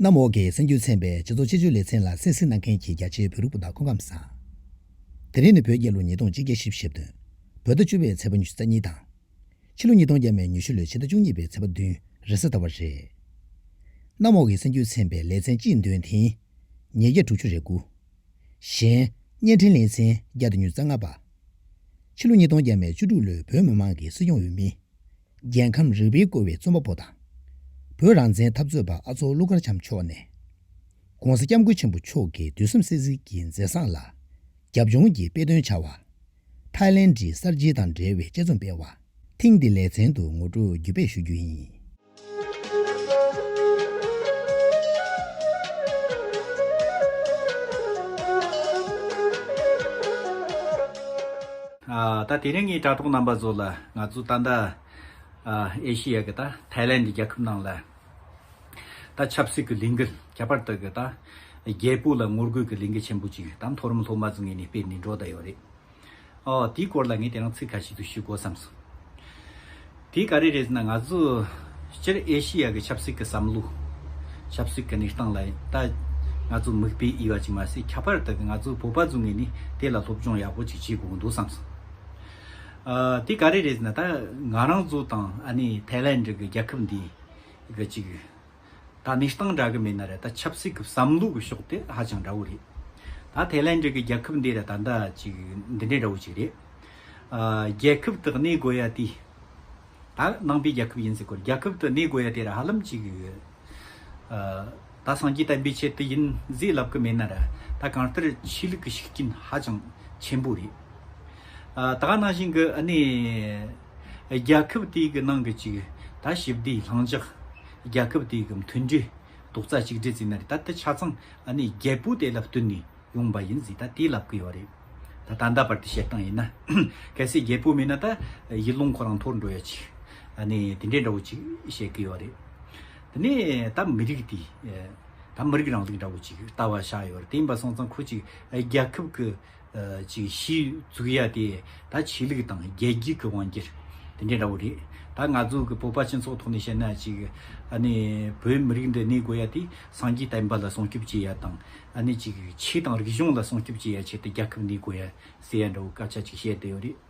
གནམ་འོག་གི་སེམས་རྒྱུད་ཚན་པའི་སྤྱི་ཚོགས་སྤྱི་སྤྱོད་ལེ་ཚན་ལ་སེམས་གཟིགས་གནང་མཁན་གྱི་རྒྱ་ཆེའི་བོད་རིགས་སྤུན་ཟླ་ཁོང་ཁམས་བཟང། དེ་རིང་ནི་བོད་རྒྱལ་ལོ་ཉིས་སྟོང་གཅིག་བརྒྱ་བཞི་བཞི་བརྒྱད་དོན། བོད་ཟླ་བཅུ་བའི་ཚེས་པ་ཉི་ཤུ་རྩ་གཉིས་དང། ཕྱི་ལོ་ཉིས་སྟོང་བརྒྱད་མའི་ཉི་ཤུ་ལོའི་ཕྱི་ཟླ་བཅུ་གཉིས་པའི་ཚེས་པ་བདུན་རེད་གསལ་བཏབ་པ་རེད། གནམ་འོག་གི་སེམས་རྒྱུད་ཚན་པའི་ལེ་ཚན་སྤྱིའི་མདུན་དེང་ཉེར་བརྒྱད་དྲུག་ཅུ་རེ་དགུ། གཞན། བརྙན་འཕྲིན་ལེ་ཚན་བརྒྱ་དང་ཉུལ་རྩ་ལྔ་པ། ཕྱི་ལོ་ཉིས་སྟོང་བརྒྱད་མའི་བཅུ་དྲུག་ལོའི་བོད་མི་མང་གི་སྲིད་སྐྱོང་འོས་མི། རྒྱལ་ཁམས་རིག་པའི་བཀོལ་བའི་རྩོམ་པ་པོ་དང། བོད་རང་བཙན་འཐབ་རྩོད་པ་ཨ་ཚོགས་ཀླུ་མཁར་བྱམས་མཆོག་ནས། ྋགོང་ས ྋསྐྱབས་མགོན་ཆེན་པོ་མཆོག་གི་དུས་གསུམ་སྲས་ཟིལ་གྱི་མཛད་བཟང་ལ་རྒྱབ་ལྗོངས་ཀྱི་དཔེ་སྟོན་བྱ་བ། ཐའི་ལན་གྱི་གསར་བརྗེ་དང་འབྲེལ་བའི་དཔྱད་རྩོམ་སྤེལ་བ། ཐེངས་འདིའི་ལེ་ཚན་དུ་ངོ་སྤྲོད་བརྒྱུད་སྤེལ་ཞུ་རྒྱུ་ཡིན། ད་དེ་རིང་ངས་དྲ་ཐོག་རྣམ་པ་ཚོ་ལ་ང་ཚོ་ད་ལྟ་ཨེ་ཤི་ཡ་གི་ད་ཐའི་ལན་གྱི་རྒྱལ་ཁབ་ནང་ལ་ད་ཆབ་སྲིད་གི་ལས་འགུལ་ཁྱད་པར་དུ་གི་ད་རྒྱལ་པོ་ལ་ངོ་རྒོལ་གྱི་ལས་འགུལ་ཆེན་པོ་ཅིག་ད་མཐོ་རིམ་སློབ་མ་ཚོ་ངས་ནས་སྤེལ་ནས་འགྲོ་ད་ཡོད་རེད། ཨོ། དེའི་སྐོར་ལ་ངས་དེ་རིང་ཚིག་ཁ་ཤིག་ཏུ་ཞུ་དགོས་བསམ་སོང། དེ་ག་རེ་རེད་ཟེར་ན་ང་ཚོ་སྤྱིར་ཨེ་ཤི་ཡ་གི་ཆབ་སྲིད་ཀྱི་བསམ་བློ། ཆབ་སྲིད་ཀྱི་གནས་སྟངས་ལ་ད་ང་ཚོ་མིག་དཔེ་དབྱེ་བ་ཅིག་མ་ཟད་ཁྱད་པར་དུ་ང་ཚོ་བོད་པ་ཚོ་ངོས་ནས་དེ་ལ་སློབ་སྦྱོང་ཡག་པོ་ཅིག་བྱེད་དགོས་ཀྱི་འདུག་བསམ་སོང། དེ་ག་རེ་རེད་ཟེར་ན་ད་ང་རང་ཚོ་དང་ཨ་ནེ་ཐའི་ལན་གྱི་རྒྱལ་ཁབ་འདིའི་གི་ཅིག་ད་ནི་སྟངས་འདྲ་གི་མིན་ན་རེད་ད་ཆབ་སྲིད་ཀྱི་བསམ་བློ་གི་ཕྱོགས་དེ་ཧ་ཅང་འདྲ་བོ་རེད། ད་ཐའི་ལན་འགྲིག་གི་རྒྱལ་ཁབ་འདི་རེད་ད་འདྲ་ཅིག་འདི་འདྲའི་འདྲ་བོ་ཅིག་རེད། རྒྱལ་ཁབ་དུ་གནས་དགོས་ཡ་དེ། ད་ནང་པའི་རྒྱལ་ཁབ་ཡིན་ཟེར་དགོས་རྒྱལ་ཁབ་དུ་གནས་དགོས་ཡ་དེ་ར་ཧ་ལམ་ཅིག་ཡོད། ད་སངས་རྒྱས་བསྟན་པའི་ཆེད་དུ་ཡིན་ཟེར་ལབ་གི་མིན་ན་རེད་ད་གང་ལྟར་ཆོས་ལུགས་ཀྱི་ཤུགས་རྐྱེན་ཧ་ཅང་ཆེན་པོ་རེད། ད་ག་ནང་བཞིན་གི་གནས། རྒྱལ་ཁབ་དེའི་གི་ནང་གི་ཅིག་ད་ཞིབ་བསྡུའི་ལྷང་འཇགས། རྒྱལ་ཁབ་དེའི་གི་མཐུན་སྒྲིལ་རྡོག་རྩ་གཅིག་སྒྲིལ་བརྩིས་ན་རེད་ད་དེ་ཆ་ཚང་ཨ་ནི་རྒྱལ་པོ་དེ་ལ་བསྟུན་ནས་ཡོང་པ་ཡིན་ཟིག་ད་དེ་ལབ་གི་ཡོད་རེད་ད་ད་ལྟ་བར་དེ་བཤད་སྟངས་ཡིན་ན་གལ་སྲིད་རྒྱལ་པོ་མེད་ན་ད་ཡིད་རླུང་ཁོ་རང་འཐོར་འགྲོ་ཡོད་ཅིག་ཨ་ནི་དེ་འདྲའི་འདྲ་བོ་ཅིག་བཤད་གི་ཡོད་རེད་དེ་ནས་ད་མི་རིགས་དེ་ད་མི་རིགས་རང་ལུགས་འདྲ་བོ་ཅིག་ལྟ་བ་ཆགས་ཡོད་རེད་དེ་ཡིན་པ་སོང་ཙང་ཁོ་ཅིག་རྒྱལ་ཁབ་གི། ཅིག་གཞིས་བཙུགས་ཡ་དེ་ད་ཆོས་ལུགས་དང་རྒྱལ་རྒྱུད་ཀྱི་དབང་གྱིར་དེ་འདྲས་འདྲ་བོ་རེད་ད་ང་ཚོ་གི་བོད་པ་སྤྱི་ཚོགས་ཐོག་ནས་བཤད་ན་ཅིག་ཨནི་བོད་མི་རིགས་འདི་གནས་དགོས་ཡ་དེ་སངས་རྒྱས་བསྟན་པ་ལ་སྲུང་སྐྱོབ་བྱེད་ཡ་དང་ཨནི་ཅིག་ཆོས་དང་རིག་གཞུང་ལ་སྲུང་སྐྱོབ་བྱེད་ཡ་ཆེད་དུ་རྒྱལ་ཁབ་གནས་དགོས་ཡ་ཟེར་ཡ་འདྲ་བོ་སྐད་ཆ་ཅིག་བཤད་དེ་ཡོད་རེད།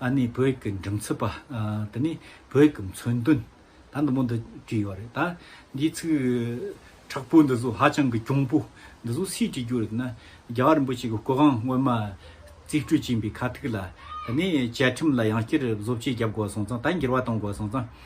ཨ་ནི་བོད་ཡིག་གི་འགྲེམས་ཚོད་པ། དེ་ནི་བོད་ཡིག་གི་མཚོན་དོན། ད་འདི་མོ་འདི་བྲིས་ཡོད་རེད། ད་འདིའི་ཚིག་དྲག་པོ་འདི་ཚོ་ཧ་ཅང་གི་གྱོང་པོ། འདི་ཚོ་སུས་བྲིས་རྒྱུ་རེད་ན། རྒྱལ་བ་རིན་པོ་ཆེ་གི་སྐུ་གང་སྔོན་མ་རྩིས་སྤྲོད་བྱིན་པའི་ཁ་ཐུག་ལ། དེ་ནས་བཅའ་ཁྲིམས་ལ་ཡང་བསྐྱར་བཟོ་བཅོས་བརྒྱབ་དགོས་སོང་ཙང་ད་འགྱུར་བ་གཏོང་དགོས་སོང་ཙང།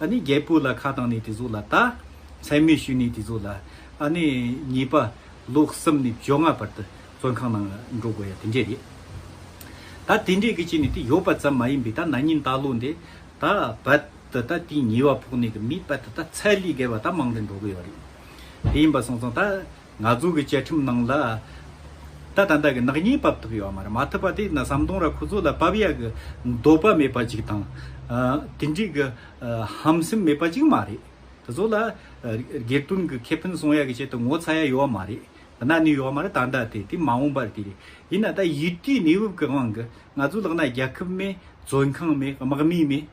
ཨ་ནི་རྒྱལ་པོ་ལ་ཁ་བཏང་ནས་དེ་ཚོ་ལ་བལྟ། མཚན་སྨོད་ཞུས་ནས་དེ་ཚོ་ལ། ཨ་ནི་གཉིས་པ་ལོ་གསུམ་ནས་བཅོ་ལྔ་བར་དུ་བཙོན་ཁང་ནང་འགྲོ་དགོས་ཡ་དེ་འདྲས་རེད། ད་དེ་འདྲས་ཀི་བྱས་ནས་དེ་ཡོད་པ་ཙམ་མ་ཡིན་པའི་ད་ན་ཉིན་ད་ལོ་འདི་ད་བལ་དུ་ད་དེའི་ཉེ་བ་ཕོག་ནས་ཀི་མི་བལ་དུ་ད་ཚལ་ལི་བརྒལ་བ་ད་མང་དྲན་འགྲོ་དགོས་ཡོད་རེད། དེ་ཡིན་པ་སོང་ཙང་ད། ང་ཚོ་གི་བཅའ་ཁྲིམས་ནང་ལ། ད་ད་འདའ་གི་ནག་ཉེས་བབ་ཐུབ་ཡོད་མ་རེད་མ་ཐུབ་པ་དེ་ན་ཟམ་གདོང་ར་ཁོ་ཚོ་ལ་བབ་ཡག་གི་འདོད་པ་མེད་པ་ཅིག་དང། དེ་འདྲིས་གི་ཧམ་སེམས་མེད་པ་ཅིག་མ་རེད། དེ་ཚོ་ལ་སྒེར་དོན་གི་ཁེ་ཕན་སྲུང་ཡག་གི་ཆེད་དུ་ངོ་ཚ་ཡག་ཡོད་མ་རེད། དེ་ན་ནི་ཡོད་མ་རེད་ད་འདའ་དེ་དེ་མ་འོངས་པར་དེ་རེད། ཡིན་ན་ད་ཡུལ་དུས་གནས་བབ་གི་དབང་གི་ང་ཚོ་ལག་ན་རྒྱ་ཁབ་མེད་བཙོན་ཁང་མེད་དམག་མི་མེད།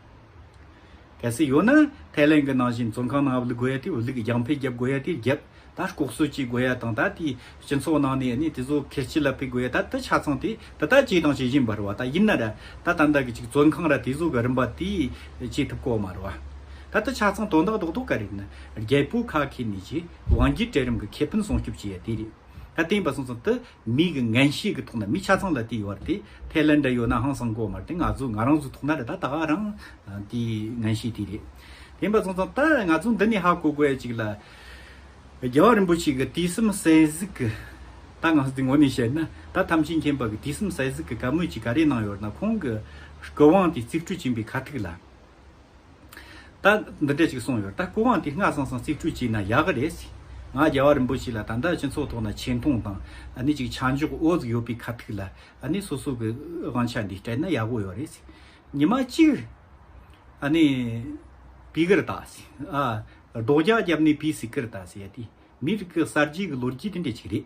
གལ་སྲིད་ཡོད་ན་ཐའི་ལེན་གྱི་ནང་བཞིན་བཙོན་ཁང་ནང་དབུལ་དགོས་ཡ་དེ་དབུལ་རྒྱང་འཕེལ་རྒྱབ་དགོས་ཡ་དེ་རྒྱབ་ད་ལྐོག་གསོད་བྱེད་དགོས་ཡ་དང་ད་དེ་སྤྱི་ཚོགས་ནང་ནས་ནི་དེ་ཚོ་ཁེར་སྐྱིད་ལ་ཕེབས་དགོས་ཡ་ད་དེ་ཆ་ཚང་དེ་དེ་ལྟར་བྱས་དང་བྱེད་བཞིན་པར་བ་ད་ཡིན་ན་ར་ད་ད་ད་གི་ཅིག་བཙོན་ཁང་ར་དེ་ཚོ་གི་རིམ་པ་དེ་བྱེད་ཐུབ་ཁོ་མར་བ་ད་དེ་ཆ་ཚང་དོན་དག་རྡོག་རྡོག་ག་རེད་ན་རྒྱལ་པོ་ཁ་ཁེ་ནི་ཅིག་དབང་སྒྱུར་གྲལ་རིམ་གྱི་ཁེ་ཕན་སྲུང་སྐྱོབ་བྱེད་ཡ་དེ་རེད་ད་དེ་ཡིན་པ་སོང་ཙང་དེ་མིག་གི་ངན་ཤེས་ཀྱི་ཐོག་ནས་མི་ཆ་ཚང་ལ་དེ་ཡོད་བར་དེ་ཐེ་ལན་འདྲ་ཡོད་ན་ཧང་སང་གོ་མ་རེད་དེ་ང་ཚོ་ང་རང་ཚོའི་ཐོག་ན་རེད་ད་ད་ག་རང་དེ་ངན་ཤེས་དེ་རེད་དེ་འབའ་ཚང་ཚང་ད་ང་ཚོ་འདི་ནས་ཧ་གོ་དགོས་ཅིག་ལ་རྒྱལ་བ་རིན་པོ་ཆེ་གི་དུས་གསུམ་གསལ་གཟིགས་ཀྱི་ད་ང་ཚོ་དེ་ངོ་ནས་བཤད་ན་ད་ཐམས་ཅད་མཁྱེན་པ་གི་དུས་གསུམ་གསལ་གཟིགས་ཀྱི་བཀའ་མོལ་ཅིག་ག་རེ་གནང་ཡོད་ན་ཁོང་གི་དགོས་དབང་དེ་རྩིག་སྤྲོད་བྱིན་པའི་ཁ་ཐུག་ལ། ད། འདི་འདྲས་ཅིག་གསུངས་ཡོད་ད་སྐུ་དབང་དེ་སྔ་སང་སང་རྩིས་སྤྲོད་བྱས་ན་ཡག་གི་རེད། ང་རྒྱལ་བ་རིན་པོ་ཆེ་ལ་ད་ལྟ་སྤྱི་ཚོགས་ཐོག་ན་ཆེ་མཐོང་དང་ནི་ཅིག་ཆ་འཇོག་དབུ་གཟུགས་ཡོད་པའི་ཁ་ཐུག་ལ་ནི་སོ་སོ་གི་དབང་ཆ་འདི་སྤྲད་ན་ཡག་པོ་ཡོད་རེད། ཉི་མ་གཅིག། ནི། བི་ཀིར་ཏཱ། སྒྲོག་རྒྱག་རྒྱབ་ནི་བི་སི་ཀིར་ཏཱ་ཟེར་ཡ་དེ། མི་རིགས་གསར་བརྗེ་གི་ལོ་རྒྱུས་དེ་འདྲས་ཅིག་རེད།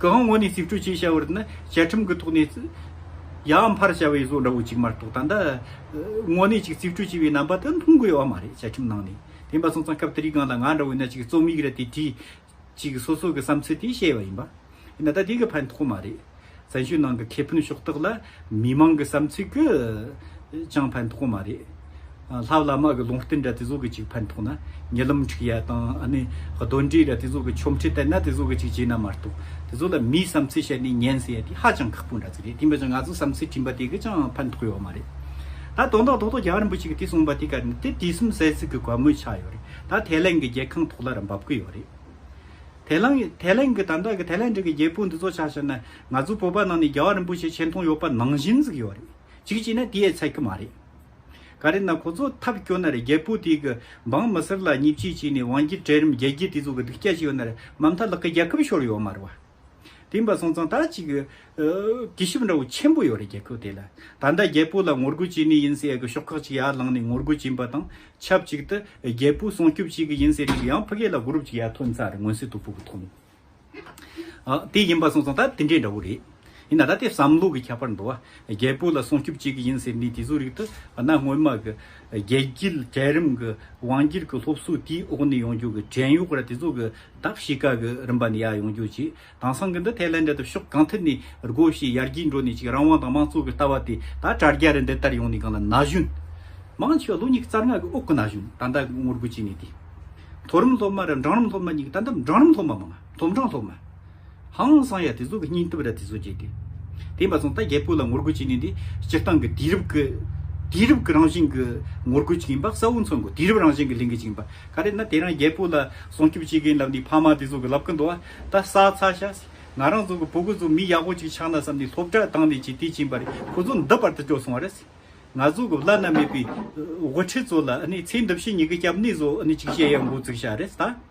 གི་དབང་བོ་ནས་རྩིས་སྤྲོད་བྱས་བྱ་བར་ནི་བཅའ་ཁྲིམས་ཀྱི་ཐོག་ནས་ཡང་འཕར་བྱ་བའི་བཟོ་འདྲ་བོ་གཅིག་མ་གཏོགས་ད་ལྟ་དངོས་གནས་གཅིག་རྩིས་སྤྲོད་བྱས་པའི་རྣམ་པ་དེ་མཐོང་དགོས་ཡོད་པ་མ་རེད་བཅའ་ཁྲིམས་ནང་ནས་དེ་འབའ་སོང་ཙང་སྐབས་དེ་རིགས་གང་དང་གང་འདྲ་བོ་ཡིན་ན་གཅིག་རྩོམ་ཡིག་རེ་དེ་བྲིས་གཅིག་སོ་སོ་གི་བསམ་ཚུལ་དེ་བཤད་པ་ཡིན་པ་ཡིན་ན་ད་དེ་གི་ཕན་ཐོགས་མ་རེད། བཙན་བྱོལ་ནང་གི་ཁེ་ཕན་ཕྱོགས་གཏོགས་ལ་མི་མང་གི་བསམ་ཚུལ་གྱི་ཅང་ཕན་ཐོགས་མ་རེད། ལྷ་བླ་མ་གི་ལུང་བསྟན་ར་དེ་ཟོ་གི་ཅིག་ཕན་ཐོགས་ན་ཉེ་ལམ་འཁྲིག་ཡ་དང་ཨ་ནི་གདོན་འདྲེ་ར་དེ་ཟོ་གི་ཆོམ་ཁྲི་བསྟན་ན་དེ་ཟོ་གི་ཅིག་བྱེད་ན་མ་གཏོགས་དེ་ཟོ་ལ་མིའི་བསམ་ཚུལ་བཤད་ནས་ཉན་ཟེར་ཡ་དེ་ཧ་ཅང་ཁག་པོ་འདྲ་ཟེར་རེད་དེ་མི་ཅང་ང་ཚོ་བསམ་ཚུལ་བྲིས་པ་དེ་གི་ཅང་ཕན་ཐོགས་ཡོག་མ་རེད། ད་དོན་དག་ཐོག་ཐོག་རྒྱ་གར་འབུ་ཅིག་གི་དེ་གསུངས་པ་དེ་ག་རེད་ནི་དེ་དུས་གསུམ་ཟས་ཟིག་གི་གོ་མོས་ཆགས་ཡོག་རེད་ད་དེ་ལན་གི་རྒྱལ་ཁང་ཐོག་ལ་ར་འབབ་གི་ཡོག་རེད། དེ་ལང་དེ་ལེང་གི་དམ་བདག་གི་དེ་ལེང་འདྲེ་གི་རྒྱལ་པོ་འདི་ཚོ་ཆ་ཤར་ན་ང་ཚོ་བོད་པ་ནང་ནས་རྒྱལ་བ་རིན་པོ་ཆེ་ཆེ་མཐོང་ཡོད་པ་ནང་བཞིན་གཟིགས་ཡོད་རེད་གཅིག་གཅིག་ན་དེ་ཡས་ཚད་གི་མ་རེད། ག་རེ་ན་ཁོ་ཚོ་ཐབས་སྐྱོ་ན་རེད་རྒྱལ་པོ་དེ་གི་འབངས་མི་སེར་ལ་ཉེས་བྱས་བྱས་ནས་དབང་རྒྱལ་གྲལ་རིམ་རྒྱལ་རྒྱལ་དེ་ཚོ་གི་སྡིག་སྐྱ་བྱས་ཡོད་ན་རེད་མམ་ཐ་ལག་གི་རྒྱལ་ཁབ་ཤོར་ཡོད་མ་རེད་བ། དེང་བ་སོང་ཙང་ད་ཅིག་གི། དུས་ཞིབ་འདྲ་བོ་ཆེན་པོ་ཡོད་རེད་རྒྱལ་ཁབ་དེ་ལ། ད་ལྟ་རྒྱལ་པོ་ལ་ངོ་རྒོལ་བྱེད་ནི་ཡིན་ཟེར་གི་ཤོག་ཁག་ཅིག་ཡར་ལངས་ནས་ངོ་རྒོལ་བྱིན་པ་དང་ཆབས་ཅིག་ཏུ། རྒྱལ་པོ་སྲུང་སྐྱོབ་བྱེད་གི་ཡིན་ཟེར་ནས་ཡང་ཕི་གེ་ལ group ཅིག་ཡར་ཐོན་ཚར་ངོས་ཟིན་དུ་བུ་གུ་ཐོན། དེ་ཡིན་བ་སོང་ཙང་ད་དེ་འདྲའི་འདྲ་བོ་རེད། ཡིན་ན་ད་དེ་བསམ་བློ་གི་ཁྱད་པར་འདུག་ཨ། རྒྱལ་པོ་ལ་སྲུང་སྐྱོབ་བྱེད་གི་ཡིན་ཟེར་ནི་དེ་ཚོ་རིགས་དུ་ཨ་ན་སྔོན་མ་གི། རྒྱལ་དཀྱིལ་གྲལ་རིམ་གི་དབང་སྒྱུར་གི་སློབ་གསོ་དེའི་འོག་ནས་ཡོང་རྒྱུ་གི་བྲན་གཡོག་ར་དེ་ཚོ་གི། བདག་བྱེད་བཀའ་གི་རིམ་པ་ནས་ཡར་ཡོང་རྒྱུ་གཅིག་དང་སང་གི་འདི་ཐེ་ལན་འདི་དང་ཕྱོགས་གང་ཐད་ནས་སྒོ་བཞི་ཡར་རྒྱས་འགྲོ་ནས་ཅིག་རང་དབང་དང་དམངས་གཙོ་གི་ལྟ་བ་དེ་ད་དྲ་རྒྱ་རེད་འདི་ལྟར་ཡོང་ནས་གང་ལ་ན་གཞོན་མང་ཆེ་བ་ལོ་གཉིས་རྩ་ལྔ་གི་དབུགས་གི་ན་གཞོན་ད་ལྟ་ངོ་རྒོལ་བྱས་ནས་དེ་མཐོ་རིམ་སློབ་མ་རེད་འབྲང་རིམ་སློབ་མ་གཉིས་ཀྱི་ད་ལྟ་འབྲང་རིམ་སློབ་མ་མང་ང་སློབ་འབྲང་སློབ་མ། ཧང་སང་ཡ་དེ་ཚོ་གི་སྙིང་སྟོབས་ར་དེ་ཚོ་བརྗེད་དེ། དེ་མ་སོང་ད་རྒྱལ་པོ་ལ་ངོ་རྒོལ་བྱེད་ནི་འདི་སྤྱིར་བཏང་གི་དུས་རབས་ཀྱི། དུས་རབས་ཀྱི་རང་བཞིན་གྱི་ངོ་རྒོལ་ཅིག་ཡིན་པ་གསལ་བོ་མཚོན་དགོས་དུས་རབས་རང་བཞིན་གྱི་ལས་འགུལ་ཅིག་ཡིན་པ་ག་རེད་ན་དེ་རང་རྒྱལ་པོ་ལ་སྲོང་སྐྱོབ་བྱེད་མཁན་ལབ་ནི་ཕ་མ་དེ་ཚོ་གི་ལབ་གི་འདུག་ཨ་ད་ས་ཚ་ཤ་ཟིག་ང་རང་ཚོ་གི་བུ་གུ་ཚོ་མི་ཡག་པོ་ཅིག་ཆགས་ན་བསམ་ནི་སློབ་གྲྭ་དང་ནི་ཅིག་དེ་བྱིན་པ་རེད་ཁོ་ཚོ་འདི་བར་དུ་སྐྱོ་སོང་བ་རེད། ང་ཚོ་གི་བླ་ན་མེད་པའི་དབུ་ཁྲིད་ཚོ་ལ་ནི་ཚེ་འདི་བཞིན་ཉི་གི་སྐྱབས་གནས་ཚོ་ནི་ཅིག་བཤད་ཡ་འགོ་བཙུགས་ཤ་རེད་ད།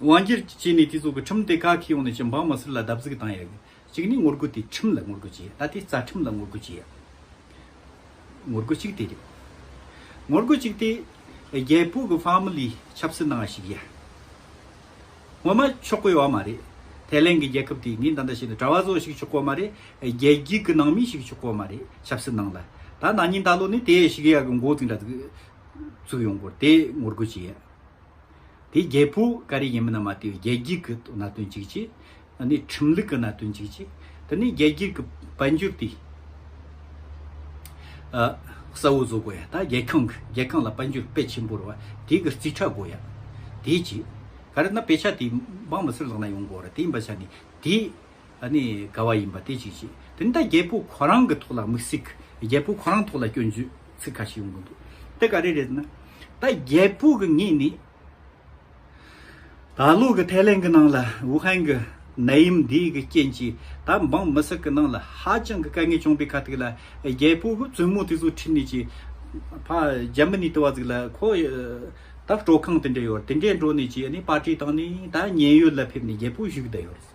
དབང་སྒྱུར་གྱི་ཆེད་ནས་དེ་ཚོ་གི་ཁྲིམས་སྡེ་ཁག་གི་ཡོང་ནས་ཀྱི་འབངས་མི་སེར་ལ་བརྡབ་གསིག་བཏང་ཡག་གཅིག་ནས་ངོ་རྒོལ་དེ་ཁྲིམས་ལ་ངོ་རྒོལ་བྱེད་ཡག་ད་ལྟའི་རྩ་ཁྲིམས་ལ་ངོ་རྒོལ་བྱེད་ཡག་ངོ་རྒོལ་གཅིག་དེ་རེད་ངོ་རྒོལ་གཅིག་དེ་རྒྱལ་པོ་གི Family ཆབ་སྲིད་གནང་བ་ཞིག་ཡ་ངོ་མ་ཆོག་གོ་ཡོག་མ་རེད་ཐའི་ལེན་གི་རྒྱལ་ཁབ་དེ་ངས་འདི་འདྲ་བྱས་ནས་གྲྭ་བ་ཚོ་ཞིག་ཆོག་གོ་མ་རེད་རྒྱལ་རྒྱུད་གི་ནང་མི་ཞིག་ཆོག་གོ་མ་རེད་ཆབ་སྲིད་ནང་ལ་ད་ནང་ཉིན་ད་ལོ་ནས་དེ་ཞིག་ཡག་གི་འགོ་བཙུགས་འདྲ་བཙུགས་ཡོང་གོ་དེ་ངོ་རྒོལ་བྱེད་ཡག། དེ་རྒྱལ་པོ་ཀ་རི་ཡིན་པ་ན་མ་ཏི་རྒྱལ་རྒྱུད་ཀྱི་གནའ་དོན་གཅིག་ཅེས་ཨ་ནི་ཁྲིམས་ལུགས་ཀྱི་གནའ་དོན་གཅིག་ཅེས་དེ་ནི་རྒྱལ་རྒྱུད་ཀྱི་དཔལ་འབྱོར་དེ་ཨ་གསལ་བོ་བཟོ་དགོས་ཡ་ད་རྒྱལ་ཁང་གི་རྒྱལ་ཁང་ལ་དཔལ་འབྱོར་དཔེ་ཆེན་པོ་རེ་བ་དེ་གི་རྩིས་ཁྲ་དགོས་ཡ་དེའི་ཅེས་ག་རི་ན་དཔེ་ཆ་དེ་འབངས་མི་སེར་ལག་ན་ཡོང་དགོས་རེ་དེ་ཡིན་པ་ཆ་ནས་དེ་ཨ་ནི་དགའ་བ་ཡིན་པ་དེ་གཅིག་བྱས། དེ་ནས་ད་རྒྱལ་པོ་ཁོ་རང་གི་ཐོག་ལ་དམིགས་ཚིག་རྒྱལ་པོ་ཁོ་རང་ཐོག་ལ་སྐྱོན་བརྗོད་ཚིག་ཁ་ཤས་ཡོང་གི་འདུག་དེ་ག་རེ་རེད་ཟེར་ན། ད་རྒྱལ་པོ་གི་ངས་ནི། ད་ལོ་གི་ཐའི་ལེན་གི་ནང་ལ་ཝུ་ཧན་གི་ནད་ཡམས་འདིའི་གི་རྐྱེན་གྱིས་ད་འབངས་མི་སེར་གི་ནང་ལ་ཧ་ཅང་གི་དཀའ་ངལ་བྱུང་པའི་ཁ་ཐུག་ལ་རྒྱལ་པོ་གི་བཙུན་མོ་དེ་ཚོ་ཁྲིད་ནས་ཀྱི། ཕ་རྒྱ་མི་ནི་དི་བ་ཟིག་ལ་ཁོ། ད་སྤྲོ་ཁང་དེ་འདྲས་ཡོད་རེད་དེ་འདྲས་འགྲོ་ནས་ཀྱི་ཨ་ནི་པར་ཏྲི་བཏང་ནས་ད་ཉེན་ཡོད་ལ་ཕེབས་ནས་རྒྱལ་པོ་བཞུགས་བསྡད་ཡོད་རེད།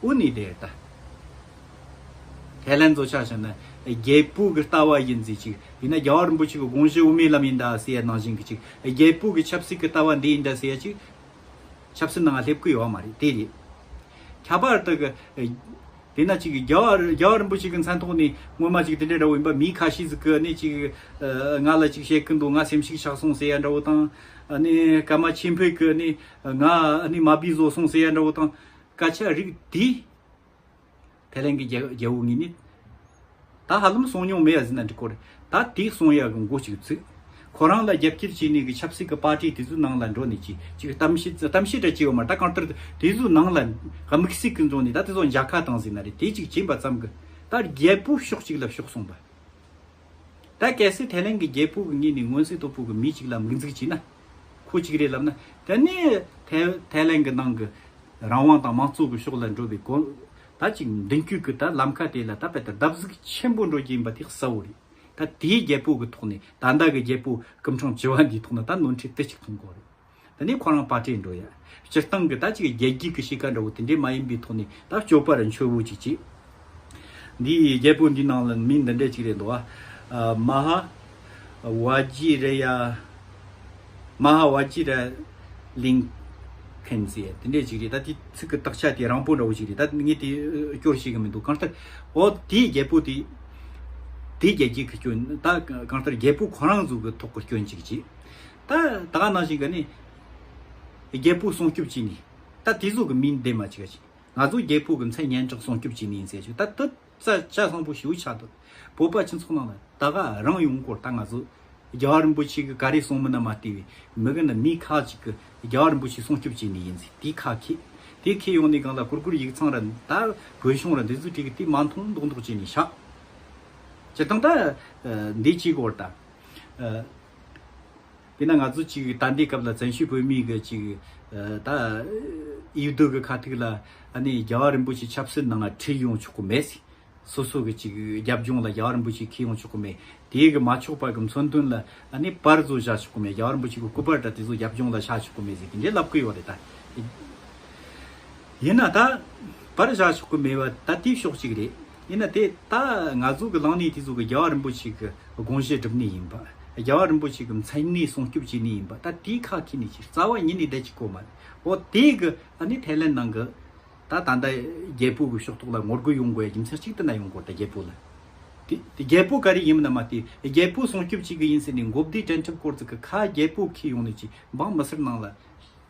དབུ་ནི་དེ་ལྟ་དེ་ལན་གཙོ་ཆགས་ཤིག་ན་རྒྱལ་པོའི་གི་ལྟ་བ་ཡིན་ཟིག་ཅིག་ཡིན་ན་རྒྱལ་བ་རིན་པོ་ཆེ་གི་དགོངས་གཞི་དབུ་མའི་ལམ་ཡིན་ད་ཟེ་ཡ་ནང་བཞིན་གི་ཅིག་རྒྱལ་པོའི་གི་ཆབ་སྲིད་གི་ལྟ་བ་འདི་ཡིན་ད་ཟེ་ཡ་ཅིག་ཆབ་སྲིད་ནང་སླེབས་གི་ཡོད་མ་རེད་དེ་རེད། ཁྱད་པར་དུ་གི་དེ་ན་ཅིག་རྒྱལ་བ་རྒྱལ་བ་རིན་པོ་ཆེ་གི་མཚན་ཐོག་ནས་སྔོན་མ་ཅིག་དེ་འདྲ་འདྲ་བོ་ཡིན་པ་མི་ཁ་ཤས་ཟིག་གི་ནི་ཅིག་ང་ལ་ཅིག་བཤད་གི་འདུག་ང་སེམས་ཤིག་ཆགས་སོང་ཟེ་ཡ་འདྲ་བོ་དང་ནི་ཀརྨ་ཆེན་བོས་གི་ནི་ང་ནི་མ་བིས་བཟོ་སོང་ཟེ་ཡ་འདྲ་བོ་དང། དཀར་ཆག་རིགས་འདི། ཐེ་ལན་གྱི་རྒྱལ་བོ་ངི་ནི། ད་ཧ་ལམ་སོང་མྱོང་མེ་ཡ་ཟི་ན་འདྲི་གོ་རེ་ད་དེ་སོང་ཡ་གི་མགོ་ཅིག་ཚུད། ཁོ་རང་ལ་རྒྱབ་སྐྱིར་བྱས་ནས་གི་ཆབ་སྲིད་གི་པར་ཏི་དེ་ཚོའི་ནང་ལ་འགྲོ་ནས་ཅིག་ཅིག་གཏམ་བཤད་འདྲ་བྱས་ཡོད་མ་ད་གང་ལྟར་དེ་ཚོའི་ནང་ལ་དམིགས་བསལ་གི་འཛོང་ནས་ད་དེ་ཚོ་འཇག་ཁ་བཏང་ཟི་ན་རེ་དེ་ཅིག་བྱས་པ་ཙམ་གི་ད་རྒྱལ་པོ་ཕྱོགས་གཅིག་ལ་ཕྱོགས་སོང་བ། ད་གལ་སྲིད་ཐེ་ལན་གྱི་རྒྱལ་པོ་གི་ངི་ནི་མངོན་གསལ་དོད་པོ་གི་མི་ཅིག་ལ་དམིགས་འཛུགས་བྱས་ན། ཁུལ་གཅིག་རེད་ལབ་ན་དེ་ནི་ཐའི་ལན་གྱི་ནང་གི་རང་དབང་དང་མང་གཙོ་གི་ཕྱོགས་ལ་འགྲོ་བའི་གོ་ད་གཅིག་མདུན་སྐྱོད་ཀྱི་ད་ལམ་ཁ་དེ་ལ་ད་དཔེ་ད་བརྡབ་གཟིགས་ཆེན་པོ་འགྲོ་གྱི་ཡིན་པ་དེ་གསལ་བོ་རེད་ད་དེའི་རྒྱལ་པོ་གི་ཐོག་ནས་ད་ལྟ་གི་རྒྱལ་པོ་སྐུ་འཕྲང་བྱི་བ་འདིའི་ཐོག་ན་ད་ནོར་འཁྲིད་དེ་གཅིག་ཐོང་གོ་རེད་དེ་ནས་ཁོ་རང་པ་ཏྲེ་འགྲོ་ཡ་སྤྱིར་བཏང་གི་ད་གཅིག་རྒྱལ་སྒྱིད་ཀྱི་གཤིས་ཀ་འདྲ་བོ་དེ་འདྲའི་མ་ཡིན་པའི་ཐོག་ནས་ད་སྐྱོ་པར་འཆོལ་བོ་གཅིག་བྱེད། འདི་ཡི་རྒྱལ་པོ་འདི་ནང་ལ་མི་འདི་འདྲས་གཅིག་རེད་འདུག་ཨ། མ་ཧ། བ་ཇི་ར་ཡ། མ་ཧ་བ་ཇི་ར། ལིང། ཕན་ཛེ་དེ་འདྲས་གཅིག་རེད་ད་དེ་ཚིག་གི་དག་ཆ་དེ་རང་སྤུན་འདྲ་བོ་ཞིག་རེད་ད་ངས་དེ་སྐྱོར་ཤེས་ཀྱི་མི་འདུག་གང་ལྟར། འོ་དེ་ཡི་རྒྱལ་པོ་དེ། དེ་རྒྱལ་གཅིག་གི་སྐྱོན་ད་གང་ལྟར་རྒྱལ་པོ་ཁོ་རང་ཚོ་གི་ཐོག་གི་སྐྱོན་གཅིག་གཅིག། ད་ད་ག་ནང་བཞིན་ག་ནི། རྒྱལ་པོ་སྲུང་སྐྱོབ་ཅིག་ནི། ད་དེ་ཚོ་གི་མིང་འདེམས་མ་ཅིག་ག་ཅིག། ང་ཚོ་རྒྱལ་ཕུག་གི་མཚན་སྙན་གྲགས་སོང་སྐྱོབ་བྱེད་མི་ཡིན་ཟེར་ཞིག་ད་ད་ཆ་བཟང་པོ་ཞིག་ཆགས་འདུག་བོད་པ་སྤྱི་ཚོགས་ནང་ལ་ད་ག་རང་ཡོང་སྐོར་ད་ང་ཚོ་རྒྱལ་བ་རིན་པོ་ཆེ་གི་ག་རེ་གསུང་མི་སྣ་མ་ལྟེ་བའི་མི་གི་ན་མི་ཁག་ཅིག་གི་རྒྱལ་བ་རིན་པོ་ཆེ་སྲུང་སྐྱོབ་བྱེད་མི་ཡིན་ཟེར་དེ་ཁ་ཁེ་དེ་ཁེ་ཡོང་ནས་སྒང་ལ་གུར་གུར་ཡིག་ཚང་ར་ད་བོད་གཞུང་ར་འདི་ཟུ་ཁྲིག་གི་དེ་མ་མཐོང་མདོག་མདོག་བྱེད་ནས་ཤག་བྱེད་དང་ད་འདི་བྱེད་སྐོར་ད། དེས་ན་ང་ཚོ་གཅིག་ད་ལྟའི་སྐབས་ལ་བཙན་བྱོལ་བོད་མིའི་གི་གཅིག་ད་ཡུལ་སྡོད་གི་ཁ་ཐུག་ལ་ཨ་ནི་རྒྱལ་བ་རིན་པོ་ཆེ་ཆབ་སྲིད་ནང་ལ་ཁྲིད་ཡོང་ཆོག་གི་མེད། སོ་སོ་གི་གཅིག་རྒྱབ་ལྗོངས་ལ་རྒྱལ་བ་རིན་པོ་ཆེ་ཁིད་ཡོང་ཆོག་གི་མེད། དེའི་གི་མ་ཆོག་པ་གི་མཚོན་དོན་ལ་ཨ་ནི་པར་ཚོ་བཞག་ཆོག་གི་མེད་རྒྱལ་བ་རིན་པོ་ཆེ་གི་སྐུ་པར་འདྲ་དེ་ཚོ་རྒྱབ་ལྗོངས་ལ་བཞག་ཆོག་གི་མེད་ཟེར་གི་འདྲེ་ལབ་གི་ཡོད་རེད་ད། ཡིན་ན་ད་བར་བཞག་ཆོག་གི་མེད་པ་ད་ལྟའི་ཤོག་ཅིག་རེད། ཡིན་ན་དེ་ད་ང་ཚོ་གི་ལངས་གནས་དེ་ཚོ་གི་རྒྱལ་བ་རིན་པོ་ཆེ་གི་དགོངས་བཞེད་སྒྲུབ་གནས་ཡིན་པ། རྒྱལ་བ་རིན་པོ་ཆེ་གི་མཚན་གནས་སྲུང་སྐྱོབ་བྱེད་གནས་ཡིན་པ་ད་དེའི་ཁ་ཁེ་ནས་ཕྱིར་རྩ་བ་ཉིད་ནས་བསྡད་ཀྱི་ཀོ་མ་རེད། འོ་དེ་གི་ཨ་ནི་ཐའི་ལེན་ནང་གི་ད་ད་ལྟ་རྒྱལ་པོ་གི་ཤོག་ཐོག་ལ་ངོ་རྒོལ་ཡོང་དགོས་ཡ་རྒྱུ་མཚན་གཅིག་ཏུ་ན་ཡོང་དགོས་ད་རྒྱལ་པོ་ལ་དེ་དེ་རྒྱལ་པོ་ག་རེ་ཡིན་མིན་ན་མ་དེ་རྒྱལ་པོ་སྲུང་སྐྱོབ་བྱེད་གི་ཡིན་ཟེར་ནས་མགོ་བདེ་དྲན་འཁྲབ་སྐོར་ཚིག་གི་ཁ་རྒྱལ་པོ་ཁས་ཡོང་ནས་ཅི་འབངས་མི་སེར་ནང་ལ་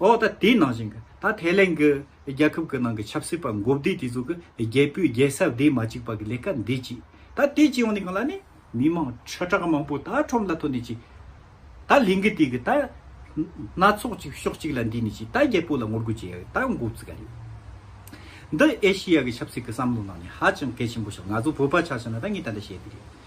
འོ་ད་དེའི་ནང་བཞིན་གྱི་ད་ཐའི་ལེན་གྱི་རྒྱལ་ཁབ་ཀྱི་ནང་གི་ཆབ་སྲིད་པ་འགོ་བདེ་དེ་ཚོ་གི་རྒྱལ་པོའི་རྒྱལ་ས་བདེ་མ་གཅིག་པ་གི་ལས་ཀ་འདི་གཅིག་ད་དེ་གཅིག་ཡོང་ནས་གང་ལ་ནི་མི་མང་ཁྲི་ཕྲག་མང་པོ་ད་ཁྲོམ་ལ་ཐོན་ནས་ཅིག་ད་ལིང་གི་དེ་གི་ད་སྣ་ཚོགས་ཅིག་ཕྱོགས་གཅིག་ལ་འདུས་ནས་ཅིག་ད་རྒྱལ་པོ་ལ་ངོ་རྒོལ་བྱེད་ཡག་ད་འགོ་བརྩི་ག་རེད། འདི་ཨེ་ཤི་ཡ་གི་ཆབ་སྲིད་ཀྱི་བསམ་བློ་ནང་ནས་ཧ་ཅང་གལ་ཆེན་པོ་ཞིག་ང་ཚོ་བོད་པ་ཆགས་ཕྱིན་ན་ད་ངས་ད་ལྟ་བཤད་དེ་རེད།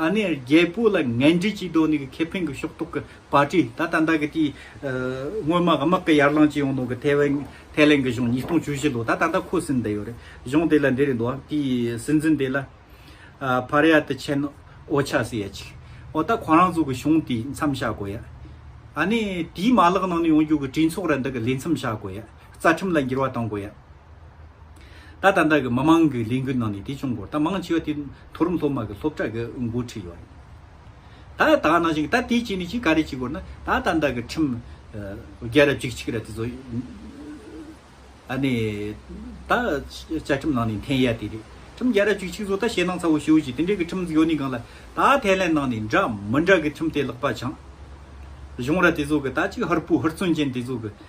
ཨ་ནེ་རྒྱལ་པོ་ལ་ངན་འབྲེལ་གྱིས་དོ་ནི་གི་ཁེ་ཕན་གི་ཕྱོགས་གཏོགས་གི་པར་ཏྲི་ད་ལྟ་འདའ་གི་དེའི་སྔོན་མ་དམག་གི་ཡར་ལངས་བྱེད་ཡོང་ནོ་གི་ཐའེ་ཝན་ཐའེ་ལེན་གི་གཞུང་ཉིས་སྟོང་བཅུ་བཞི་ལོ་ད་ད་འདའ་ཁོ་སིན་འདི་ཡོད་རེད་གཞུང་དེ་ལ་འདི་རེད་འདུག་ཨ་དེའི་སྲིད་འཛིན་དེ་ལ་བྷ་ར་ཡ་ཏི་ཆན་ཨོ་ཆ་སི་ཡ་ཆི་ཨོ་ད་ཁོ་རང་ཚོ་གི་གཞུང་དེའི་མཚམས་བཞག་དགོས་ཡ་ཨ་ནེ་དེའི་མ་ལག་ནང་ནས་ཡོང་རྒྱུ་གི་གྲོས་ཚོགས་ར་འདི་གི་ལས་མཚམས་བཞག་དགོས་ཡ། རྩ་ཁྲིམས་ལ་འགྱུར་བ་གཏོང་དགོས། ད་ལྟ་བདག་གི་མི་མང་གི་ལས་འགུལ་ནང་ནས་དེ་བྱུང་དགོས་རེད་ད་མང་ཆེ་བ་དེ་མཐོ་རིམ་སློབ་མ་གི་སློབ་གྲྭ་གི་འགོ་ཁྲིད་ཡོད་རེད། ད་ད་ནང་བཞིན་ད་དེ་བྱས་ནས་ཅི་ག་རེ་བྱེད་དགོས་ན་ད་ལྟ་བདག་གི་ཁྲིམས་རྒྱལ་རབས་གཅིག་གཅིག་ར་དེ་ཚོ་ཨ་ནི་ད་བཅའ་ཁྲིམས་ནང་ནས་འཐེན་ཡ་དེ་རེད་ཁྲིམས་རྒྱལ་རབས་གཅིག་གཅིག་ཚོ་ད་ཞེད་སྣང་ཚ་བོ་ཞུ་བྱས་དེ་འདྲའི་གི་ཁྲིམས་ཡོད་ནི་གང་ལ་ད་ཐེ་ལན་ནང་ནས་འདྲ་མི་འདྲ་གི་ཁྲིམས་དེ་ལག་པ་འཆང་བྱུང་ར་དེ་ཚོ་གི་ད་ཅིག་ཧུར་པོ་ཧུར་བརྩོན་ཅན་དེ་ཚོ་གི།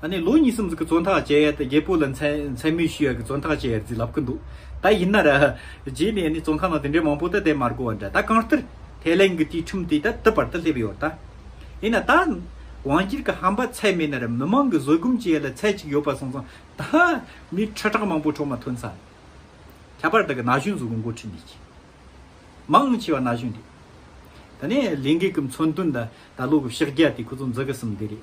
ད་ནས་ལོ་གཉིས་གསུམ་ཟིག་གི་བཙོན་ཐག་བཅད་ཡས་ད་རྒྱལ་པོ་ལ་མཚན་སྨོད་ཞུ་ཡས་ཀྱི་བཙོན་ཐག་བཅད་ཡས་ཟིག་ལབ་ཀྱི་འདུག་ད་ཡིན་ན་ར། རྗེས་ནས་ནི་བཙོན་ཁང་ནང་དེ་འདྲའི་མང་པོ་ད་དེ་མར་གོ་བ་འདྲ་ད་གང་ལྟར་དེ་ལན་གྱི་དུས་ཁྲིམས་དེ་ད་དུ་བར་ད་སླེབས་ཡོད་ད། ཡིན་ན་ད། དབང་སྒྱུར་གྱི་ཧམ་པ་ཚད་མེད་ན་ར་མི་མང་གི་བཟོད་སྒོམ་བྱེད་ཡས་ལ་ཚད་ཅིག་ཡོད་པ་སོང་ཙང་ད། མི་ཁྲི་ཕྲག་མང་པོ་འཕྲོག་མ་ཐོན་ཙང། ཁྱད་པར་ད་གི་ན་གཞོན་ཟུག་གི་འགོ་ཁྲིད་འདི་ཀྱི། མང་ཆེ་བ་ན་གཞོན་རེད། ད་ནས་ལས་འགན་གྱི་མཚོན་དོན་ད་ད་ལོ་གི་ཕྱག་རྒྱ་དེ་ཁོ་ཚོ་འཛུག་གི་སམ་འདི་རེད།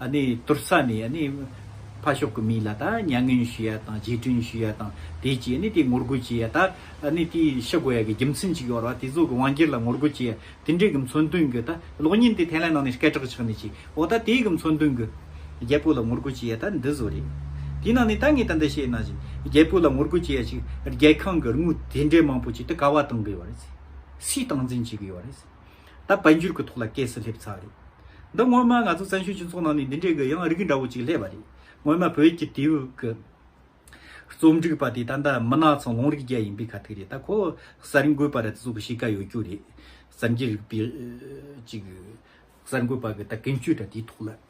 གཏོར་ས་ནས་ཕ་ཤོག་གི་མི་ལ་མྱ་ངན་ཞུ་ཡ་དང་རྗེས་དྲན་ཞུ་ཡ་དང་དེ་བཅས་ནས་དེ་ངོ་རྒོལ་བྱེད་ཡ་དང་དེ་ཤི་དགོས་ཡ་གི་རྒྱུ་མཚན་གཅིག་ཡོད་ར་བ་དེ་ཚོ་གི་དབང་སྒྱུར་ལ་ངོ་རྒོལ་བྱེད་ཡ་དེ་འདྲའི་གི་མཚོན་དོན་གྱི་གློག་བརྙན་དེ་ཐེ་ལན་ནང་ནས་སྐད་གྲགས་ཆགས་ནས་ཆེ་འོ་ད་དེ་གི་མཚོན་དོན་གི་རྒྱལ་པོ་ལ་ངོ་རྒོལ་བྱེད་ཡ་ད་འདི་ཟོ་རེད་དེ་ནང་ནས་ད་ངས་ད་འདི་བཤད་ན་ཞིག་རྒྱལ་པོ་ལ་ངོ་རྒོལ་བྱེད་ཡ་ཞིག་རྒྱལ་ཁང་གི་རྔུལ་དེ་འདྲའི་མང་པོ་བྱེད་དེ་ཀ་བ་གཏོང་གི་ཡོད་རེད་སུས་སྟངས་འཛིན་བྱེད་གི་ཡོད་རེད། ད་དཔལ་འབྱོར་གྱི་ཐོག་ལ་སྐད་སུ་སླེབས་ཚར། འདི་སྔོན་མ་ང་ཚོ་བཙན་བྱོལ་སྤྱི་ཚོགས་ནང་ནས་འདི་འདྲའི་གི་ཡང་རིགས་འདྲ་བོ་ཅིག་སླེབས་པ་རེད། སྔོན་མ་བོད་ཀྱི་དེའུ་གི་རྩོམ་སྒྲིག་པ་དེ་ད་ལྟ་མི་ནག་ཚང་ལུང་རིགས་བརྒྱ་ཡིན་པའི་ཁ་ཐུག་རེད་ད་ཁོ་གསར་འགོད་པ་རེད་ད་སུ་གི་གཤིས་ཀ་ཡོད་རྒྱུ་རེད། གསར་འགྱུར་རིག་པའི་ཅིག་གསར་འགོད་པ་གི་ད་ཀུན་སྤྱོད་དྲ་དེའི་ཐོག་ལ།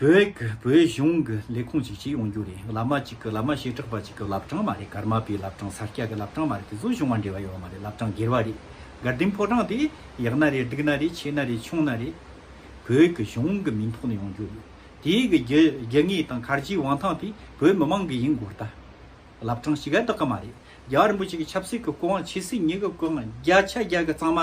བོད་གཞུང་གི་ལས་ཁུངས་ཅིག་ཅིག་ཡོང་རྒྱུ་རེད་བླ་མ་ཅིག་གི་བླ་མ་ཞེ་དྲག་པ་ཅིག་གི་བླ་བྲང་མ་རེད་ཀརྨ་པའི་བླ་བྲང་ས་སྐྱ་གི་བླ་བྲང་མ་རེད་དེ་ཚོ་གཞུང་བ་འབྲེལ་བ་ཡོད་བ་མ་རེད་བླ་བྲང་སྒེར་བ་རེད་དགའ་ལྡན་ཕོ་བྲང་དེ་ཡག་ན་རེད་སྡུག་ན་རེད་ཆེ་ན་རེད་ཆུང་ན་རེད་བོད་གི་གཞུང་གི་མིང་ཐོག་ནས་ཡོང་རྒྱུ་རེད་དེ་གི་རྒྱུ་དངོས་དང་གར་གྱི་དབང་ཐང་དེ་བོད་མི་མང་གི་ཡིན་དགོས་རྟ་བླ་བྲང་ཞིག་ག་དག་གི་མ་རེད་རྒྱ་གར་རིན་པོ་ཆེ་གི་ཆབ་སྲིད་གི་སྐུ་དབང་ཕྱི་སྲིད་ཉིད་གི་སྐུ་དབང་རྒྱ་ཆ་རྒྱ་གི་གཙང་མ་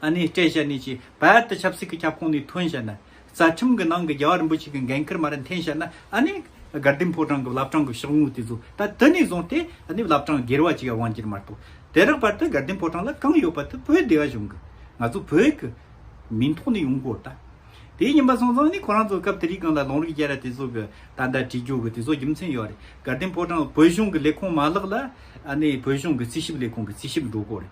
ཨ་ནེ་བཀྲས་ཞལ་ནས་ཀྱིས་བལ་ཏི་ཆབ་སྲིད་ཀྱི་ཁྱབ་ཁོངས་ནས་ཐོན་བཤད་ན། རྩ་ཁྲིམས་ཀྱི་ནང་གི་རྒྱལ་བ་རིན་པོ་ཆེ་གི་འགན་འཁུར་མ་རེད་འཐེན་བཤད་ན་ཨ་ནེ། དགའ་ལྡན་ཕོ་བྲང་གི་བླ་བྲང་གི་ཕྱག་དངུལ་དེ་ཚོ་ད་དི་ནས་བཟུང་སྟེ་ཨ་ནེ་བླ་བྲང་སྒེར་བ་གཅིག་ཡང་དབང་བསྒྱུར་མ་གཏོགས་དེ་རག་བར་དུ་དགའ་ལྡན་ཕོ་བྲང་ལ་གང་ཡོད་པ་དེ་བོད་སྡེ་བ་གཞུང་གི་ང་ཚོ་བོད་ཀྱི་མིང་ཐོག་ནས་ཡོང་དགོས་ད། དེའི་ཉིན་པ་སོང་ཙང་ནི་ཁོ་རང་ཚོ་སྐབས་དེ་རིགས་གང་ལ་ལུང་རིགས་རྒྱལ་ར་དེ་ཚོ་གི་ད་ཟླ་བྲིས་རྒྱུ་གི་དེ་ཚོ་རྒྱུ་མཚན་ཡོད་རེད་དགའ་ལྡན་ཕོ་བྲང་བོད་གཞུང་གི་ལས་ཁུངས་མ་ལག་ལ་ཨ་ནེ་བོད་གཞུང་གི་རྩིས་ཞིབ་ལས་ཁུངས་ཀྱི་རྩིས་ཞིབ་འགྲོ་དགོས་རེད།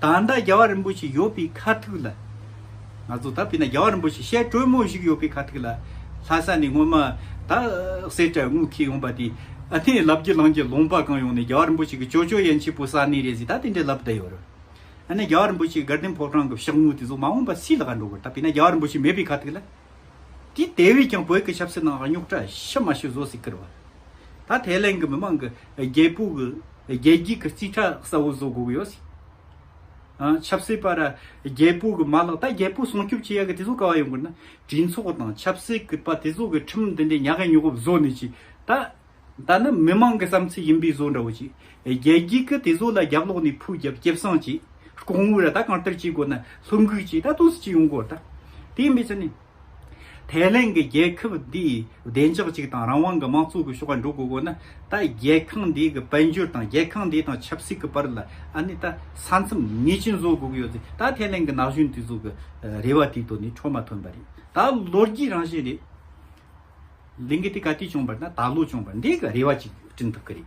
ད་ལྟ་རྒྱལ་བ་རིན་པོ་ཆེ་ཡོད་པའི་ཁ་ཐུག་ལ། ང་ཚོ་ད་བལྟས་ན་རྒྱལ་བ་རིན་པོ་ཆེ་བཤད་གྲོས་མོ་ཞིག་ཡོད་པའི་ཁ་ཐུག་ལ། ལྷ་ས་ནས་སྔོན་མ་ད་གསེར་བྲག་དངུལ་འཁྱིལ་ཡོང་པ་དེ། ཨ་ནེ་ལབ་རྒྱུ་ལངས་རྒྱུ་ལུང་པ་གང་ཡོང་ནས་རྒྱལ་བ་རིན་པོ་ཆེ་གི་ཅོ་ཅོ་ཡན་ཆད་པོ་ས་གནས་རེད་ཟིག་ད་དེ་འདྲའི་ལབ་བསྡད་ཡོད་རེད། ཨ་ནེ་རྒྱལ་བ་རིན་པོ་ཆེ་དགའ་ལྡན་ཕོ་བྲང་གི་ཤག་དངུལ་དེ་ཚོ་མ་འོངས་པ་སུའི་ལག་ལ་འགྲོ་དགོས་ད་བལྟས་ན་རྒྱལ་བ་རིན་པོ་ཆེ་མེད་པའི་ཁ་ཐུག་ལ། དེ་དེ་བས་ཀྱང་བོད་ཀྱི་ཆབ་སྲིད་ནང་རྙོག་དྲ་ཕྱི་མ་ཤི་བཟོ་སྲིད་ཀིར་བ། ད་ཐའི་ལེན་གི་མི་མང་གི་རྒྱལ་པོ་གི། རྒྱལ་སྒྱིས་ཀྱི་རྩིས་ཁྲ་གསལ་བོ་བཟོ་དགོས་ཡོད། ཆབ་སྲིད་པར་རྒྱལ་པོ་གི་མ་ལག་ད་རྒྱལ་པོ་སྲུང་སྐྱོབ་བྱེད་ཡག་གི་དེ་ཚོ་ག་བ་ཡོང་དགོས་ན་དྲིན་ཚོགས་དང་ཆབ་སྲིད་ཀྱི་པ་དེ་ཚོ་གི་ཁྲིམས་དེ་འདྲའི་ཉག་ག་ཉུག་ག་བཟོ་ནི་ཅི་ད་ད་ནི་མི་མང་གི་བསམ་ཚུལ་ཡིན་པའི་བཟོ་འདྲ་བོ་ཅི་རྒྱལ་སྒྱིས་ཀྱི་དེ་ཚོ་ལ་རྒྱབ་ལོག་ནས་ཕུ་རྒྱབ་སྐྱེབ་སྲང་ཅི་ལྐོག་དངུལ་ར་ད་གང་ལྟར་བྱེད་དགོས་ན་ལྷུ་འགུག་ཅི་ད་དུང་སུ་ཅི་ཡོང་དགོས་ར་ད་དེ་ཡིན་པའི་ཚུལ་ནི། ཐའེ་ལེན་གྱི་རྒྱལ་ཁབ་འདིས་བདེ་འཇགས་གཅིག་དང་རང་དབང་གི་དམངས་གཙོ་གི་ཤོག་ཁ་འགྲོ་དགོས་དགོས་ན་ད་རྒྱལ་ཁང་འདི་གི་དཔལ་འབྱོར་དང་རྒྱལ་ཁང་འདི་དང་ཆབ་སྲིད་གི་བར་ལ་ཨ་ནི་ད་ས་མཚམས་ངེས་ཅན་བཟོ་དགོས་ཀྱི་ཡོད་ཚེ་ད་ཐའེ་ལེན་གྱི་ན་གཞོན་དེ་ཚོ་གི་རེ་བ་དེ་ཚོ་ནི་འཕྲོ་མ་ཐོན་པ་རེད་ད་ལོ་རྒྱུས་རང་བཞིན་རེད། ལིང་གེ་དེ་ག་དུས་བྱུང་བར་ན་ད་ལོ་བྱུང་བར་འདི་གི་རེ་བ་ཅིག་བསྐྲུན་ཐུབ་ཀྱི་རེད།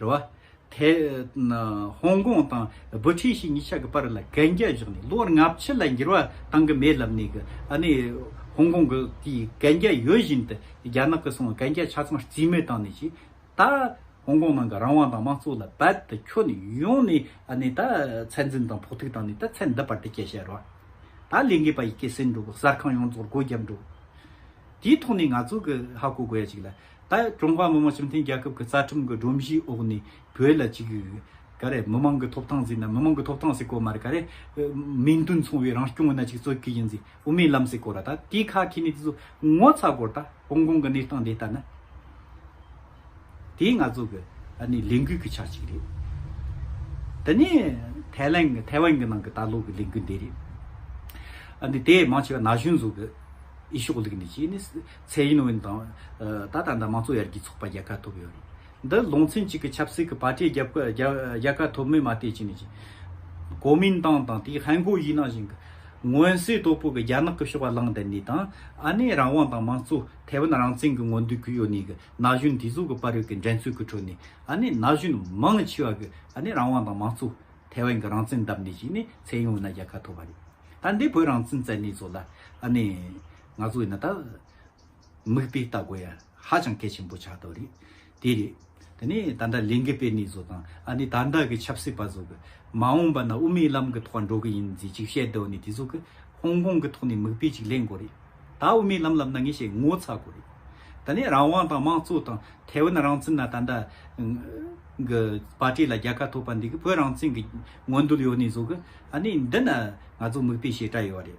རེད་བ། ཐའེ་ཧོང་ཀོང་དང་སྦུ་ཁྲི་ཞི་གཉིས་ཆ་གི་བར་ལ་གན་རྒྱ་བཞག་ནས་ལོ་ལྔ་ཕྱི་ལ་འགྱུར་བ་བཏང་གི་མེད་ལབ་ནས་ཀྱི་ཧོང་ཀོང་གི་དེའི་གན་རྒྱ་ཡོད་བཞིན་དུ་རྒྱ་ནག་གི་སོང་གན་རྒྱ་ཆ་ཚང་རྩིས་མེད་བཏང་ནས་ཀྱི་ད་ཧོང་ཀོང་ནང་གི་རང་དབང་དང་དམངས་གཙོ་ལ་རྦད་དུ་ཁྱོ་ནས་ཡོང་ནས་ནས་ད་ཚད་འཛིན་དང་ཕོག་ཐུག་བཏང་ནས་ད་ཚད་འདི་བར་དུ་སྐྱེལ་བྱས་རེད་བ། ད་ལས་འགས་པ་ཡི་གེ་སེལ་འགྲོ་གི་གསར་ཁང་ཡོངས་རྫོགས་སྒོ་རྒྱབ་འགྲོ། དེའི་ཐོག་ནས་ང་ཚོ་གི་ཧ་གོ་དགོས་ཡ་ཅིག་ལ། ད་ཀྲུང་ཧྭ་མི་དམངས་སྤྱི་མཐུན་རྒྱལ་ཁབ་ཀྱི་རྩ་ཁྲིམས་ཀྱི་སྒྲོམ་གཞིའི་འོག་ནས་བོད་ལ་གཅིག་གྱུར་གྱི། ག་རེ། མི་དམངས་ཀྱི་ཐོབ་ཐང་ཟེར་ན་མི་དམངས་ཀྱི་ཐོབ་ཐང་ཟེར་དགོས་མ་རེད་ག་རེ། མིང་དོན་མཚུངས་བའི་རང་སྐྱོང་མི་སྣ་གཅིག་གཙོས་ཀྱི་ཡིན་ཟེར་དབུ་མའི་ལམ་ཟེར་དགོས་ར་ད་དེའི་ཁ་ཁེ་ནི་དེ་ཚོ་ངོ་ཚ་དགོས་ར་ད་ཧོང་ཀོང་གི་གནས་སྟངས་དེ་ལྟར་ན། དེ་ང་ཚོ་གི་ཨ་ནི་ལས་འགུལ་གྱི་ཆ་གཅིག་རེད། དེ་ནས་ཐའི་ལན་གྱི་ཐའེ་ཝན་གྱི་ནང་གི་ད་ལོ་གི་ལས་འགུལ་འདི་རེད། ཨ་ནི་དེ་མང་ཆེ་བ་ན་གཞོན་ཚོ་གི་ཨི་ཤོག་ལུགས་ནས་ཀྱིས་ནི། ཚེ་ཡིན་ཝུན་དང། ད་ལྟ་འདི་དམངས་གཙོ་ཡར་རྒྱས་ཚོགས་པ་རྒྱལ་ཁ་ཐོབ་ཡོད་རེད། འདི་ལུང་ཚན་གཅིག་གི་ཆབ་སྲིད་ཀྱི་པར་ཏྲིའི་རྒྱལ་ཁ་ཐོབ་མིན་མ་བལྟས་ཅི་ནས་ཅི། གོ་མིན་ཏང་དང་དེའི་ཧན་གོའི་ཡིག་ནང་བཞིན་གྱི། མངོན་གསལ་དོད་པོ་གྱི་རྒྱ་ནག་གི་ཕྱོགས་བླངས་དེ་ནས་དང། ཨ་ནེ་རང་དབང་དང་དམངས་གཙོ་ཐའེ་ཝན་རང་བཙན་གྱི་ངོ་འདུན་གུས་ཡོད་ནས་གི་ན་གཞོན་དེ་ཚོ་གི་དཔའ་རོལ་གྱི་འགྲན་རྩོད་ཀྱི་ཁྲོད་ནས་ཨ་ནེ་ན་གཞོན་མང་ཆེ་བ་གི་ཨ་ནེ་རང་དབང་དང་དམངས་གཙོ་ཐའེ་ཝན་གྱི་རང་བཙན་བདམས་ནས་ཅི་ནས་ཚེ་ཡིན་ཝུན་ན་རྒྱལ་ཁ་ཐོབ་པ་རེད། ད་འདི་བོད་རང་བཙན་བཙལ་ནས་ཚོ་ལ་ཨ་ནེ། ང་ཚོ་ཡིན་ན་ད། མིག་དཔེ་ལྟ་དགོས་ཡ་ཧ་ཅང་གལ་ཆེན་པོ་ཆགས་ཐོ་རེད། དེ་རེད། དེ་ནས་ད་ལྟ་ལས་འགུལ་སྤེལ་ནས་བཟོ་དང་ཨ་ནི་ད་ལྟ་གི་ཆབ་སྲིད་པ་བཟོ་གི། མ་འོངས་པ་ན་དབུ་མའི་ལམ་གི་ཐོག་འགྲོ་གི་ཡིན་ཟེ་ཅིག་བཤད་དོ་ནི་དེ་བཟོ་གི། ཧོང་ཀོང་གི་ཐོག་ནས་མིག་དཔེ་ཅིག་ལེན་དགོས་རེད། ད་དབུ་མའི་ལམ་ལབ་ན་ངས་བཤད་ངོ་ཚ་དགོས་རེད། ད་ནས་རང་དབང་དང་དམངས་གཙོ་དང་ཐའེ་ཝན་རང་བཙན་ན་ད་ལྟ། གི་པར་ཏི་ལ་རྒྱལ་ཁ་ཐོབ་པ་འདི་གི་བོད་རང་བཙན་གི་ངོ་འདུལ་ཡོ་ནི་བཟོ་གི། ཨ་ནི་འདི་ན་ང་ཚོ་མིག་དཔེ་བྱེད་གྲ་ཡོ་རེད།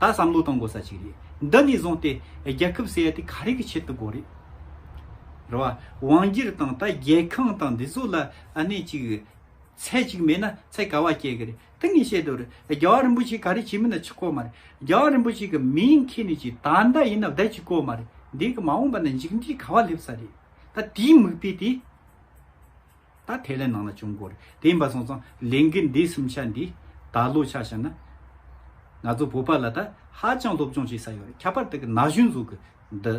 ད་བསམ་བློ་གཏོང་དགོས་ས་ཅིག་རེད་འདི་ནས་བཟུང་སྟེ་རྒྱལ་ཁབ་ཟེར་ཡ་དེ་ག་རེ་གི་ཆེད་དུ་དགོས་རེད་རེད་བ། དབང་སྒྱུར་དང་ད་རྒྱལ་ཁང་དང་འདི་ཚོ་ལ་གནས་ཅིག་ཚད་ཅིག་མེད་ན་ཚད་ག་བ་སྐྱེ་གི་རེད་དེ་ངས་བཤད་དུ་རེད་རྒྱལ་བ་རིན་པོ་ཆེ་ག་རེ་བྱེད་མིན་ན་ཆི་ཀོ་མ་རེད་རྒྱལ་བ་རིན་པོ་ཆེ་གི་མིང་ཁྱེར་ནས་ཅིག་ད་ཟླ་ཡིན་ན་བསྡད་ཅི་ཀོ་མ་རེད་འདི་གི་མ་འོངས་པ་ན་འཇིག་འདྲིས་ག་བ་སླེབས་ས་རེད་ད་དེའི་མིག་དཔེ་དེ། ད་དེ་ལས་ནང་ལ་བྱུང་དགོས་རེད་དེ་ཡིན་པ་སོང་ཙང་ལས་འགུལ་འདི་གསུམ་ཆ་འདི་ད་ལོ་ཆ་བྱས་ན། ང་ཚོ་བོད་པ་ལ་ད་ཧ་ཅང་སློབ་སྦྱོང་བྱེད་ས་ཡོད་རེད་ཁྱད་པར་དེ་གི་ན་གཞོན་ཟུར་གི་འདི་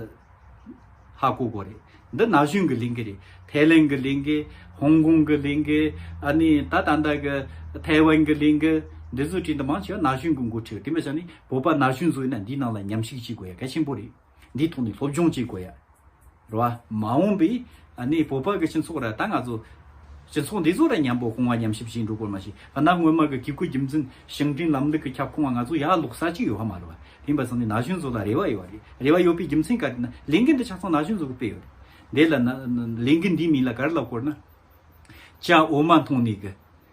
ཧ་གོ་དགོས་རེད་འདི་ན་གཞོན་གི་ལས་འགུལ་རེད་ཐའི་ལན་གི་ལས་འགུལ་ཧོང་ཀོང་གི་ལས་འགུལ་ཨ་ནི་ད་ད་ལྟ་གི་ཐའི་ཝན་གི་ལས་འགུལ་འདི་ཟུར་ཁྲིད་འདི་མང་ཆེ་བ་ན་གཞོན་གི་འགོ་ཁྲིད་རེད་དེ་མི་ཆ་ནས་བོད་པ་ན་གཞོན་ཟུར་ཡིན་ན་འདིའི་ནང་ལ་ཉམས་ཞིག་བྱེད་དགོས་ཡ་གལ་ཆེན་པོ་རེད། འདིའི་ཐོག་ནས་སློབ་སྦྱོང་བྱེད་དགོས་ཡ་རོ། མ་འོངས་པའི་གནས་བོད་པ་གི་སྤྱི་ཚོགས་ར་ད་ང་ཚོ་སྤྱི་ཚོགས་འདི་ཚོ་ར་མཉམ་པོ་གོང་བ་མཉམ་གཤིབ་བྱེད་འགྲོ་དགོས་མ་བྱེད་ཨ་ན་སྔོན་མ་གི་གི་གུ་རྒྱུ་མཚན་ཞིང་བྲན་ལམ་ལུགས་གི་ཁྱབ་ཁོངས་བ་ང་ཚོ་ཡ་ལོག་ས་ཅི་ཡོད་ཧ་མ་རེད་བ་དེ་འབའ་ས་ནས་ན་གཞོན་ཚོ་ལ་རེ་བ་ཡོད་བ་རེད་རེ་བ་ཡོད་པའི་རྒྱུ་མཚན་ག་རེད་ན་ལས་འགན་འདི་ཆ་ཚང་ན་གཞོན་ཚོ་གི་སྤེལ་ཡོད་རེད་དེ་ལ་ན་ལས་འགན་འདིའི་མིང་ལ་ག་རེ་ལབ་དགོས་རེད་ན་ཅའོ་མ་མཐོང་ནས་གི།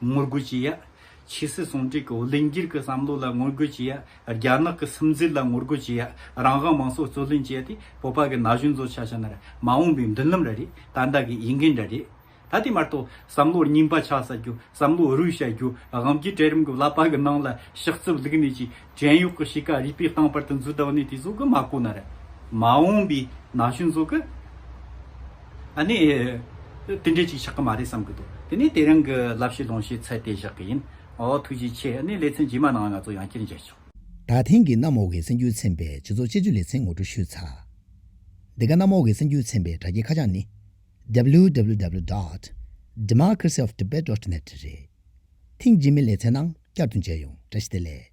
ངོ་རྒོལ་བྱེད་ཡ། ཆོས་སྲིད་ཟུང་འབྲེལ་གྱི་བློས་འགྱུར་གྱི་བསམ་བློ་ལ་ངོ་རྒོལ་བྱེད་ཡ། རྒྱ་ནག་གི་སིམ་འཛུལ་ལ་ངོ་རྒོལ་བྱེད་ཡ། རང་དབང་མང་གཙོ་རྩོད་ལེན་བྱེད་ཡ་དེ་བོད་པ་གི་ན་གཞོན་ཚོ་ཆ་ཆ་ནར་མ་འོངས་པའི་མདུན་ལམ་ར་རེད་ད་ལྟ་གི་ཡིག་འགན་འདྲ་རེད། ད་དེ་མ་གཏོགས་བསམ་བློར་རྙིང་པ་ཆགས་ས་རྒྱུ་བསམ་བློ་རུལ་བྱ་རྒྱུ་དབང་གིས་གྲལ་རིམ་གྱི་བསླབ་པ་གི་ནང་ལ་ཞག་རྩིབ་བླུགས་ནས་ཀྱི་བྲན་གཡོག་གི་གཤིས་ཀ་རིག་པའི་སྟེང་པར་དུ་འཛུལ་དག་ནས་དེ་ཟོ་གི་མ་གོ་ན་ར་མ་འོངས་པའི་ན་གཞོན་ཟོ་གི་ཨ་ནི་དེ་འདྲས་ཅིག་ཆགས་གི་མ་རེད་བསམ་གི་འདུག་དེ་ནས་དེ་རང་གི་བསླབ་བྱའི་ལོངས་ཤེད་ཚད་དེ་བཞག་གི་ཡིན་འོ་ཐུགས་རྗེ་ཆེ་ཨ་ནི་ལེ་ཚན་རྗེས་མ་ནང་ང་ཚོ་ཡང་བསྐྱར་མཇལ་ཆོག། ད་ཐེངས་ཀྱི་གནམ་འོག་གི་སེམས་འགྱུར་ཚན་པའི་སྤྱི་ཚོགས་དཔྱད་བརྗོད་ལེ་ཚན་ངོ་སྤྲོད་ཞུས་ཚར། འདི་ག་གནམ་འོག་གི་སེམས་འགྱུར་ཚན་པའི་དྲ་རྒྱའི་ཁ་བྱང་ནི www. Democracy of Tibet dot net རེད། ཐེངས་རྗེས་མའི་ལེ་ཚན་ནང་བསྐྱར་དུ་མཇལ་ཡོང་བཀྲ་ཤིས་བདེ་ལེགས།